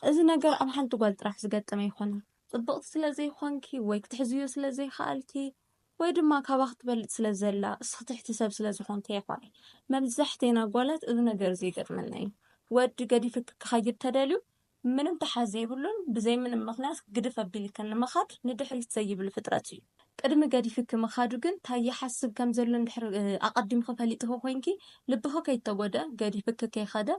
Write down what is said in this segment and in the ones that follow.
እዚ ነገር ኣብ ሓንቲ ጓል ጥራሕ ዝገጠመ ኣይኮነን። ጽብቕቲ ስለ ዘይኮንኪ ወይ ክትሕዝዮ ስለ ዘይከኣልኪ ወይ ድማ ካባኺ ትበልጽ ስለ ዘላ እስኺ ትሕቲ ሰብ ስለ ዝኾንኪ ኣይኮነን። መብዛሕቴና ጓላት እዚ ነገር እዚ ይገጥመና እዩ። ወዲ ገዲፍኪ ክኸይድ ተደልዩ ምንም ተሓዝ ዘይብሉን ብዘይ ምንም ምኽንያት ግድፍ ኣቢልክን ንምኻድ ንድሕሪት ዘይብል ፍጥረት እዩ። ቅድሚ ገዲፍኪ ምኻዱ ግን ታይ ይሓስብ ከም ዘሎ እንድሕር ኣቐዲምኺ ፈሊጥኺ ኮይንኪ ልብኺ ከይተጎድኣ ገዲፍኪ ከይኸደ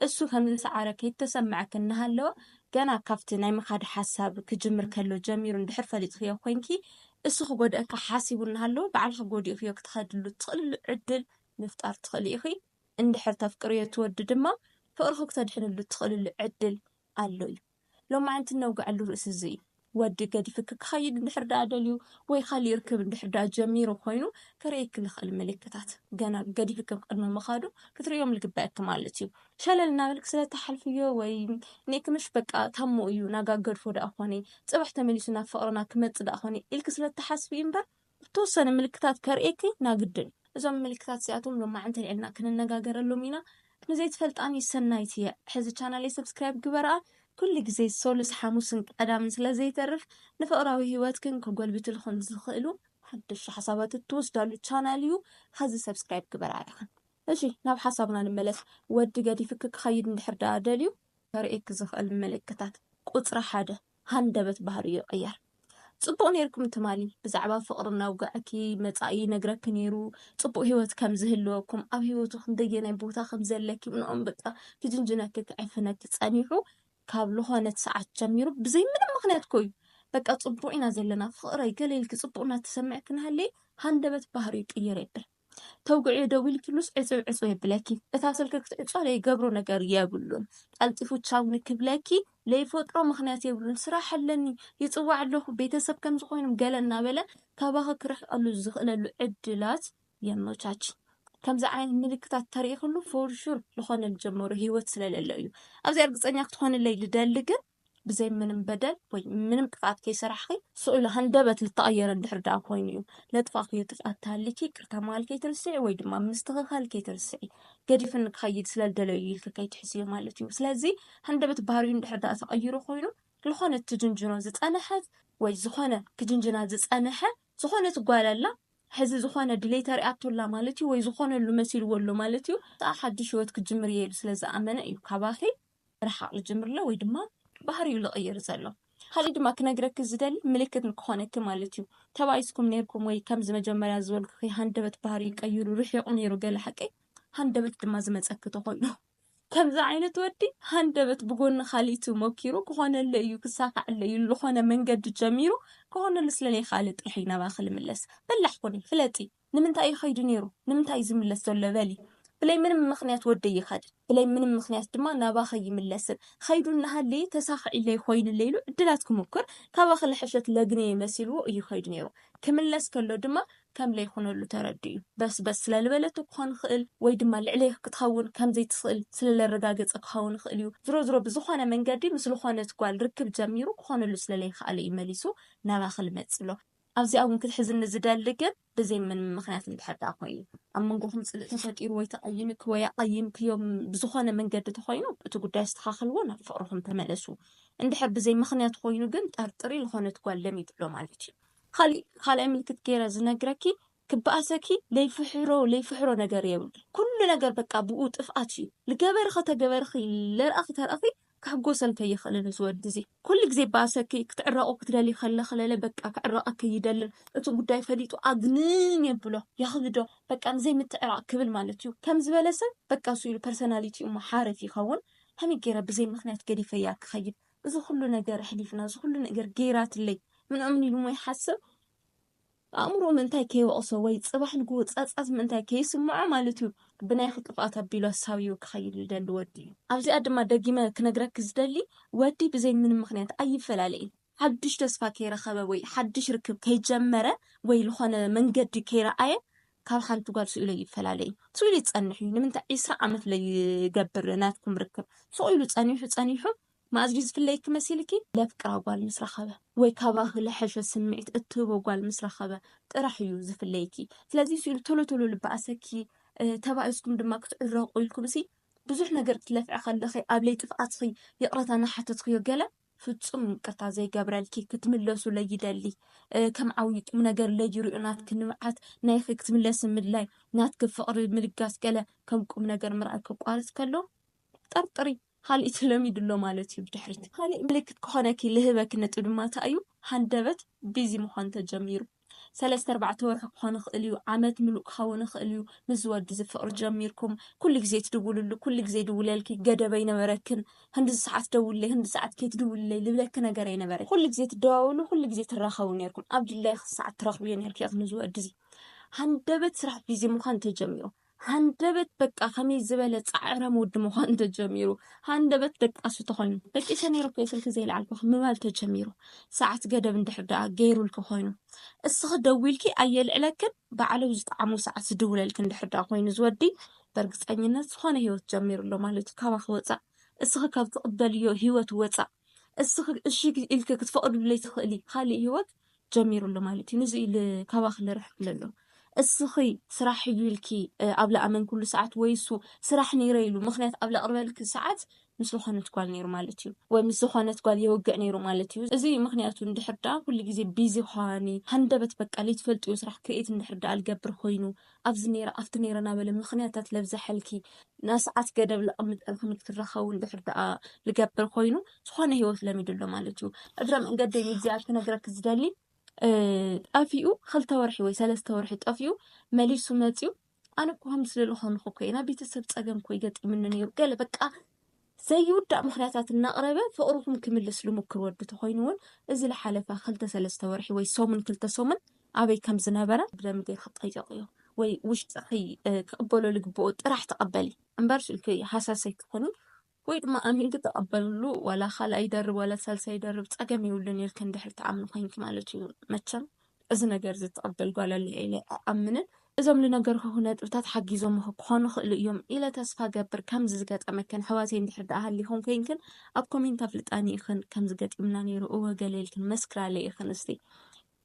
እሱ ከም ዝሰዓረ ከይተሰመዐኪ እናሃለወ ገና ካብቲ ናይ ምኻድ ሓሳብ ክጅምር ከሎ ጀሚሩ እንድሕር ፈሊጥኽዮ ኮይንኪ እሱ ክጎድኣኪ ሓሲቡ እናሃለወ ባዕልኺ ጎዲእኽዮ ክትኸድሉ እትኽእልሉ ዕድል ምፍጣር ትኽእሊ ኢኺ። እንድሕር ተፍቅርዮ እቲ ወዲ ድማ ፍቕርኺ ክተድሕንሉ እትኽእልሉ ዕድል ኣሎ እዩ። ሎማዕንቲ እነውግዐሉ ርእሲ እዚ እዩ። ወዲ ገዲፍኪ ክኸይድ እንድሕር ደኣ ደልዩ ወይ ካሊእ ርክብ እንድሕር ደኣ ጀሚሩ ኮይኑ ከርእየኪ ልኽእል ምልክታት ገና ገዲፍኪ ቅድሚ ምኻዱ ክትርእዮም ልግበኣኪ ማለት እዩ። ሸለል እናበልኪ ስለ እትሓልፍዮ ወይ ኒእክምሽ በቃ ታሞ እዩ ናጋ ገድፎ ደኣ ኮኔ ጽባሕ ተመሊሱ ናብ ፍቕርና ክመጽእ ደኣ ኮኔ ኢልኪ ስለ እትሓስቢ እዩ እምበር ብተወሰነ ምልክታት ከርእየኪ ናግድን። እዞም ምልክታት እዚኣቶም ሎማዕንቲ ኣልዒልና ክንነጋገረሎም ኢና። ንዘይትፈልጣኒ ሰናይት እየ ሕዚ ቻናለይ ሰብስክራይብ ግበርኣ ኩሉ ግዜ ሶሉስ ሓሙስን ቀዳምን ስለ ዘይተርፍ ንፍቕራዊ ሂወትክን ከጎልብትልኽን ዝኽእሉ ሓደሽቲ ሓሳባት እትወስዳሉ ቻናል እዩ ሐዚ ሰብስክራይብ ግበርኣ ኢኽን እሺ ናብ ሓሳብና ንመለስ ወዲ ገዲፍኪ ክኸይድ እንድሕር ደኣ ደልዩ ከርእየኪ ዝኽእል ምልክታት ቁጽሪ ሓደ ሃንደበት ባህሪ ይቅየር። ጽቡቅ ኔርኩም ትማሊ ብዛዕባ ፍቅሪ ነውግዐኪ መጻኢ ይነግረኪ ኔሩ ጽቡቅ ሂወት ከም ዝህልወኩም ኣብ ሂወቱ ክንደየናይ ቦታ ከም ዘለኪ ምንኦም በቃ ክጅንጅነኪ ክዕፍነኪ ጸኒሑ ካብ ልኾነት ሰዓት ጀሚሩ ብዘይ ምንም ምክንያት ኮዩ በቃ ጽቡቅ ኢና ዘለና ፍቅረይ ገለ ኢልኪ ጽቡቅ እናተሰምዐኪ ናሃለየ ሃንደበት ባህሪ ይቅየር የብል ተውግዕዮ ደዊልክሉስ ዕጽው ዕጽው የብለኪ እታ ስልኪ ክትዕጾ ለይገብሮ ነገር የብሉን ቀልጢፉ ቻው ንክብለኪ ለይፈጥሮ ምክንያት የብሉን ስራሕ ኣለኒ ይጽዋዕ ኣለኹ ቤተሰብ ከምዚ ኮይኖም ገለ እናበለ ካባኺ ክርሕቀሉ ዝኽእለሉ ዕድላት የመቻች ከምዚ ዓይነት ምልክታት ተሪእክሉ ፎርሹር ልኾነል ጀመሩ ህይወት ስለለለ እዩ ኣብዚ እርግፀኛ ክትኾንለይ ልደሊ ግን ብዘይ ምንም በደል ወይ ምንም ጥፍኣት ከይሰራሕኺ ስእሉ ሃንደበት ልተቐየረ እንድሕር ደኣ ኮይኑ እዩ። ለጥፋእክዮ ጥፍኣት ተሃሊኪ ይቅርታ ምባል ከይትርስዒ ወይ ድማ ምስትኽኻል ከይትርስዒ። ገዲፍኒ ክኸይድ ስለ ልደለዮ እዩ ኢልኪ ከይትሕዝዮ ማለት እዩ። ስለዚ ሃንደበት ባህሪኡ እንድሕር ደኣ ተቐይሩ ኮይኑ ልኾነት ትጅንጅኖ ዝጸነሐት ወይ ዝኾነ ክጅንጅና ዝጸነሐ ዝኾነት ጓል ኣላ ሕዚ ዝኾነ ድሌት ኣርኣቶ ኣላ ማለት እዩ ወይ ዝኾነሉ መሲልዎ ኣሎ ማለት እዩ። ደኣ ሓድሽ ህይወት ክጅምር እየ ኢሉ ስለ ዝኣመነ እዩ ካባኺ ምርሓቕ ልጅምር ኣሎ ወይ ድማ ባህሪኡ ልቕይር ዘሎ። ካሊእ ድማ ክነግረኪ ዝደሊ ምልክት ንክኾነኪ ማለት እዩ ተባኢስኩም ነይርኩም ወይ ከምዚ መጀመርያ ዝበልኩኺ ሃንደበት ባህሪኡ ቀይሩ ርሒቑ ነይሩ ገለ ሓቂ ሃንደበት ድማ ዝመፀኪ ተኾይኑ። ከምዚ ዓይነት ወዲ ሃንደበት ብጎኒ ካሊእቲ ሞኪሩ ክኾነለይ እዩ ክሳኸዐለይ እዩ ልኾነ መንገዲ ጀሚሩ ክኾነሉ ስለለይኻኣለ ጥራሕ እዩ ናባኺ ልምለስ። በላሕ ኩኒ ፍለጢ። ንምንታይ እዩ ከይዱ ነይሩ ንምንታይ እዩ ዝምለስ ዘሎ በሊ ብለይ ምንም ምክንያት ወደይ ይኸድን ብለይ ምንም ምክንያት ድማ ናባኸ ይምለስን ከይዱ እናሃለየ ተሳኺዒለይ ኮይኑለይ ኢሉ ዕድላት ክሙክር ካባኺ ልሕሸት ለግነየ መሲልዎ እዩ ከይዱ ነይሩ ክምለስ ከሎ ድማ ከም ለይኹነሉ ተረዲኡ በስ በስ ስለልበለቶ ክኾን ይኽእል ወይ ድማ ልዕለይ ክትኸውን ከም ዘይትኽእል ስለለረጋገፀ ክኸውን ይኽእል እዩ ዝሮ ዝሮ ብዝኾነ መንገዲ ምስ ልኾነት ጓል ርክብ ጀሚሩ ክኾነሉ ስለለይኸኣለ እዩ መሊሱ ናባኺ ልመፅእ ብሎ ኣብዚኣ ውን ክትሕዝኒ ዝደሊ ግን ብዘይ ምንም ምክንያት እንድሕር ደኣ ኮይኑ ኣብ መንጎኹም ጽልእ ተፈጢሩ ወይ ተቀይምኪ ወይ ኣቀይምክዮም ብዝኾነ መንገዲ ተኾይኑ እቲ ጉዳይ ኣስተኻኽልዎ ናብ ፍቅርኹም ተመለሱ እንድሕር ብዘይ ምክንያት ኾይኑ ግን ጠርጥሪ ልኾነት ጓል ለሚድሎ ማለት እዩ። ካሊእ ካልኣይ ምልክት ገይረ ዝነግረኪ ክባኣሰኪ ለይፍሕሮ ለይፍሕሮ ነገር የብሉን ኩሉ ነገር በቃ ብኡ ጥፍኣት እዩ ልገበርኺ ተገበርኺ ለርኣኺ ተርኣኺ ክሕጎሰል ከይኽእልን እዚ ወዲ እዚ ኩሉ ግዜ ይባኣሰኪ ክትዕረቁ ክትደልዪ ከለኺ ለለ በቃ ክዕረቀኪ ኣይደልን እቲ ጉዳይ ፈሊጡ ኣግንን የብሎ የኽብዶ በቃ ንዘይ ምትዕራቅ ክብል ማለት እዩ ከም ዝበለ ሰብ በቃ እሱ ኢሉ ፐርሰናሊቲ እሞ ሓርፍ ይኸውን ከመይ ገይረ ብዘይ ምኽንያት ገዲፈያ ክኸይድ እዚ ኩሉ ነገር ኣሕሊፍና እዚ ኩሉ ነገር ገይራትለይ ምናምን ኢሉ እሞ ይሓስብ ኣእምሮኡ ምእንታይ ከይወቕሶ ወይ ጽባሕ ንግሆ ጸጸት ምእንታይ ከይስምዖ ማለት'ዩ ብናይኺ ጥፍኣት ኣቢሉ ኣሳብይዎ ክኸይድ ዝደሊ ወዲ'ዩ። ኣብዚኣ ድማ ደጊመ ክነግረኪ ዝደሊ ወዲ ብዘይ ምንም ምኽንያት ኣይፈላለ'ዩ። ሓድሽ ተስፋ ከይረኸበ ወይ ሓድሽ ርክብ ከይጀመረ ወይ ልኾነ መንገዲ ከይረኣየ ካብ ሓንቲ ጓል ስኢሉ ኣይፈላለ'ዩ። ስኢሉ ይጸንሕ'ዩ። ንምንታይ ዕስራ ዓመት ለይገብር ናትኩም ርክብ ስቕ ኢሉ ጸኒሑ ጸኒሑ መኣዝ ድዩ ዝፍለየኪ መሲልኪ ለፍቅራ ጓል ምስ ረኸበ ወይ ካባኺ ልሐሸ ስምዒት እትህቦ ጓል ምስ ረኸበ ጥራሕ እዩ ዝፍለየኪ ስለዚ ስኢሉ ቶሎ ቶሎ ልበኣሰኪ ተባኢስኩም ድማ ክትዕረቑ ኢልኩም ሲ ብዙሕ ነገር ክትለፍዒ ከለኺ ኣብ ለይ ጥፍኣትኺ ይቕረታ ናሓተትክዮ ገለ ፍጹም ይቅርታ ዘይገብረልኪ ክትምለሱ ለይደሊ ከም ዓብዪ ቁም ነገር ለይሪኦ ናትኪ ንብዓት ናይኺ ክትምለሲ ምድላይ ናትኪ ፍቕሪ ምልጋስ ገለ ከም ቁም ነገር ምርኣይ ከቋርጽ ከሎ ጠርጥሪ ካሊእ ተለሚዱ ኣሎ ማለት እዩ ብድሕሪት ካሊእ ምልክት ክኾነኪ ልህበኪ ነጥብ ድማ እንታይ እዩ ሃንደበት ቢዚ ምዃን ተጀሚሩ ሰለስተ ኣርባዕተ ወርሒ ክኾን ይኽእል እዩ ዓመት ምሉእ ክኸውን ይኽእል እዩ ምስ ዝወዲ እዚ ፍቕሪ ጀሚርኩም ኩሉ ግዜ ትድውልሉ ኩሉ ግዜ ይድውለልኪ ገደብ ኣይነበረክን ክንድዚ ሰዓት ደውልለይ ክንድዚ ሰዓት ከይትድውልለይ ልብለኪ ነገር ኣይነበረን ኩሉ ግዜ ትደዋወሉ ኩሉ ግዜ ትራኸቡ ኔርኩም ኣብ ድላይኪ ሰዓት ትረኽብዮ ኔርኪ ኢኺ ንዚ ወዲ እዚ ሃንደበት ስራሕ ቢዚ ምዃን ተጀሚሩ ሃንደበት በቃ ከመይ ዝበለ ጻዕራም ወዲ ምዃኑ ተጀሚሩ። ሃንደበት ደቃሱ ተኾይኑ። ደቂሰ ነይረ እኮ ስልኪ ዘይለዓልኩኺ ምባል ተጀሚሩ። ሰዓት ገደብ እንድሕር ደኣ ገይሩልኪ ኮይኑ። እስኺ ደዊልኪ ኣየልዕለክን ባዕሉ ዝጠዓሞ ሰዓት ዝድውለልኪ እንድሕር ደኣ ኮይኑ እዚ ወዲ በርግጸኝነት ዝኾነ ህይወት ጀሚሩ ኣሎ ማለት እዩ። ካባኺ ወጻእ እስኺ ካብ ትቕበልዮ ህይወት ወጻእ እስኺ እሺ ኢልኪ ክትፈቕድሉ ዘይትኽእሊ ካልእ ህይወት ጀሚሩ ኣሎ ማለት እዩ ንዚ ኢዩ ካባኺ ልርሕቅ ኢለ ኣለኩ እስኺ ስራሕ ኢዩ ኢልኪ ኣብ ልኣመንክሉ ሰዓት ወይ እሱ ስራሕ ነይረ ኢሉ ምኽንያት ኣብ ለቅርበልኪ ሰዓት ምስ ዝኾነት ጓል ነይሩ ማለት እዩ ወይ ምስ ዝኾነት ጓል የወግዕ ነይሩ ማለት እዩ እዚ ምኽንያቱ እንድሕር ደኣ ኩሉ ግዜ ቢዚ ኳኒ ሃንደበት በቃ ለይትፈልጥዮ ስራሕ ክሬኤት እንድሕር ደኣ ልገብር ኮይኑ ኣብዚ ነይረ ኣብቲ ነይረ ናበለ ምኽንያታት ለብዘሐልኪ ናይ ሰዓት ገደብ ለቐምጠልኪ ንክትራኸቡ እንድሕር ደኣ ልገብር ኮይኑ ዝኾነ ህይወት ለሚዱ ኣሎ ማለት እዩ። እግረ መንገደይ ንእግዚኣብሔር ክነግረኪ ዝደሊ ጠፊኡ ክልተ ወርሒ ወይ ሰለስተ ወርሒ ጠፊኡ መሊሱ መፂኡ ኣነ እኮ ከምዚ ዝደለኹ ኮንኩ እኮ ኢና ቤተሰብ ፀገም እኮ ይገጢምኒ ነይሩ ገለ በቃ ዘይውዳእ ምኽንያታት እናቕረበ ፍቕርኹም ክምልስ ልሙክር ወዲ ተኾይኑ እውን እዚ ልሓለፈ ክልተ ሰለስተ ወርሒ ወይ ሰሙን ክልተ ሰሙን ኣበይ ከም ዝነበረ ብደምገ ክጠየቕ እዮ ወይ ውሽጥኺ ክቕበሎ ልግብኦ ጥራሕ ተቐበሊ እምበር ስልኪ ሃሳሰይ ክኾኒ ወይ ድማ ኣሚንኪ ተቐበልሉ ዋላ ካልኣይ ይደርብ ዋላ ሳልሳይ ይደርብ ፀገም የብሉን ኢልክን ድሕሪ ትኣምኒ ኮይንኪ ማለት እዩ መቸም እዚ ነገር እዚ እትቕበል ጓል ኣላ ኢለ ኣይኣምንን። እዞም ልነገርኩኹ ነጥብታት ሓጊዞምኺ ክኾኑ ይኽእሉ እዮም ኢለ ተስፋ እገብር። ከምዚ ዝገጠመክን ኣሕዋተይ እንድሕር ደኣ ሃሊኹም ኮይንክን ኣብ ኮሜንት ኣፍልጣኒ ኢኽን። ከምዚ ገጢሙና ነይሩ እወ ገለ ኢልክን መስክራለይ ኢኽን። እስቲ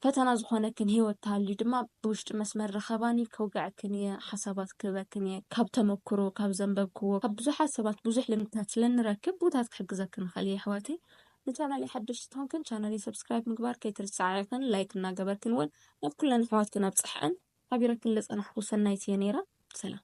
ፈተና ዝኾነክን ህይወት ተሃልዩ ድማ ብውሽጢ መስመር ርኸባኒ ከውግዐክን እየ ሓሳባት ክህበክን እየ። ካብ ተመኩሮ ካብ ዘንበብክዎ ካብ ብዙሓት ሰባት ብዙሕ ልምድታት ስለንረክብ ብኡታት ክሕግዘክን እኽእል እየ ኣሕዋተይ። ንቻናለይ ሓደሽቲ ተኾንክን ቻናለይ ሰብስክራይብ ምግባር ከይትርስዓዕክን ላይክ እናገበርክን እውን ናብ ኩለን ኣሕዋትክን ኣብፅሐዐን ሓቢረክን ለፀናሕኹ ሰናይት እየ ነይረ ሰላም